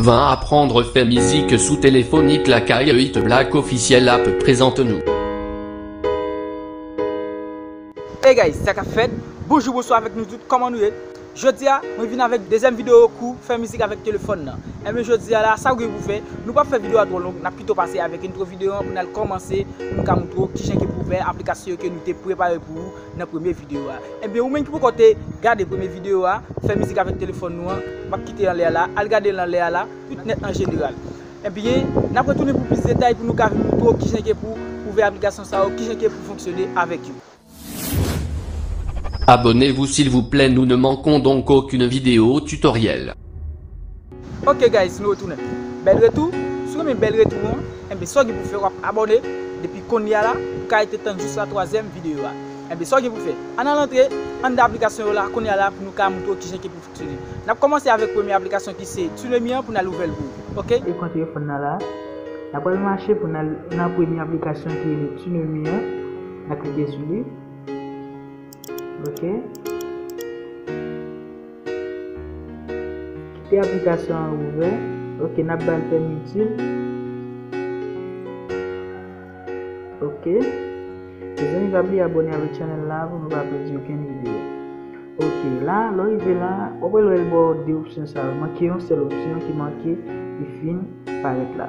Vin apprendre fè mizik sou telefon it lakay it black officiel app prezante nou. Hey guys sa kap fèt Bonjou bonswa avèk nou tout kòman nou ye Jodi a mwen vin avèk dezyèm videyo kou fè mizik avèk telefòn nan Enben jodi a la sa ou gen pou fè nou pap fè videyo a twò long nap pito pase avèk entwo videyo an pou nal kòmanse pou nou ka moutre ou kijan ke pou fè aplikasyon yo ke nou te prepare pou ou nan premye video a Ebyen ou menm ki poko te gade premye video a fè mizik avèk telefòn nou an map kite anlè a la al gadel anlè a la tout nèt an jeneral Ebyen nap retounen pou plis detay pou nou ka vin moutrew kijan ke pou ouvè aplikasyon sa yo kijan ke pou fonksyone avèk yo. Abonnez vous silvouplè nous ne manquons donc aucune vidéo tutoriel. Ok guys nou retounen bèl retou si w renmen bèl retou an enben sa w gen pou fè wap abòne depi konnye a la pou ka rete tann jis la twazyèm videyo a enben sa w gen pou fè ann al antre anndan aplikasyon yo la konnye a la pou nou ka moutre w kijan ki pou fksyone nap kòmanse avèk premye aplikasyon ki se Tunemi an pou nal ouvèl pou ou ok. Ekran telefòn nan la na pral mache pou nal nan premye aplikasyon ki rele Tunemi an na klike sou li. Ok. Kite aplikasyon an ouvè. Ok, nap bal pèmi itil. Ok. Mezanmi pa bliye abone avèk chanèl la pou nou pa pèdi okenn videyo. Ok, la, lò rive la, wap wè lò el baw 2 opsyon sa yo. Manke yon sèl opsyon ki manke li fin parèt la.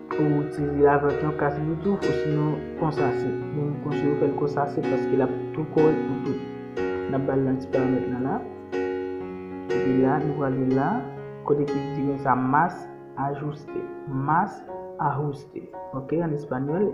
Ou tire avèk yon kas bluetooth ou sinon konsa se. Mwen konseye ou fèl konsa se paske lap tou korèk pou tout. Nap bal nan ti paramèt nan la. Epi la nou prale la kote ki di nou sa mas ajuste. Mas ajuste. Ok an espanyol.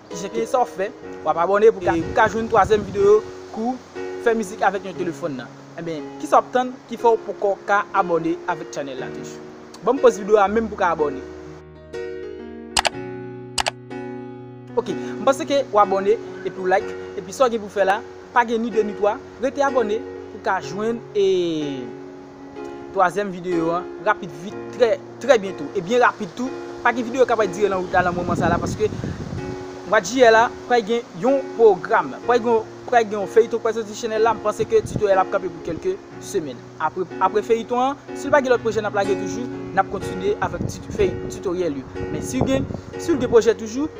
Kijan kisa wap fè wap abòne pou ka jwenn twazyèm videyo kou fè mizik avèk yon telefòn nan enben kisa wap tann ki fèw poko ka abòne avèk channel la toujou banm pòz videyo a menm pou ka abòne ok m panse ke w abòne epiw like epi sa w gen pou fè la pa gen ni 2 ni 3 rete abòne pou ka jwenn e. Twazyèm videyo an rapid vit trè trè byento e byen rapid tou. Pa gen videyo k ap dire nan wout la nan moman sa la paske mwa jiyè la pral gen yon pwogram, pral gen yon feyiton k pral soti sou chanèl la. M panse ke titoryèl ap kanpe pou kèlke semèn. Apre feyiton an, si l pa gen lòt pwojè n ap lage toujou, n ap kontinye avèk titoryèl yo. Men si gen pwojè toujou,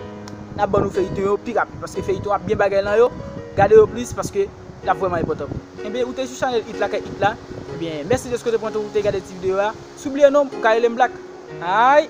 n ap ban nou feyiton yo pi rapid paske feyiton ap gen bagay nan yo. Gade yo plis paske. lap vrèman enpòtan pou ou Enben ou te sou chanèl it la kay it la Enben mèsi deske ou te pran tan ou te gade ti videyo a Si ou bliye non m ou ka rele m Black Aayy.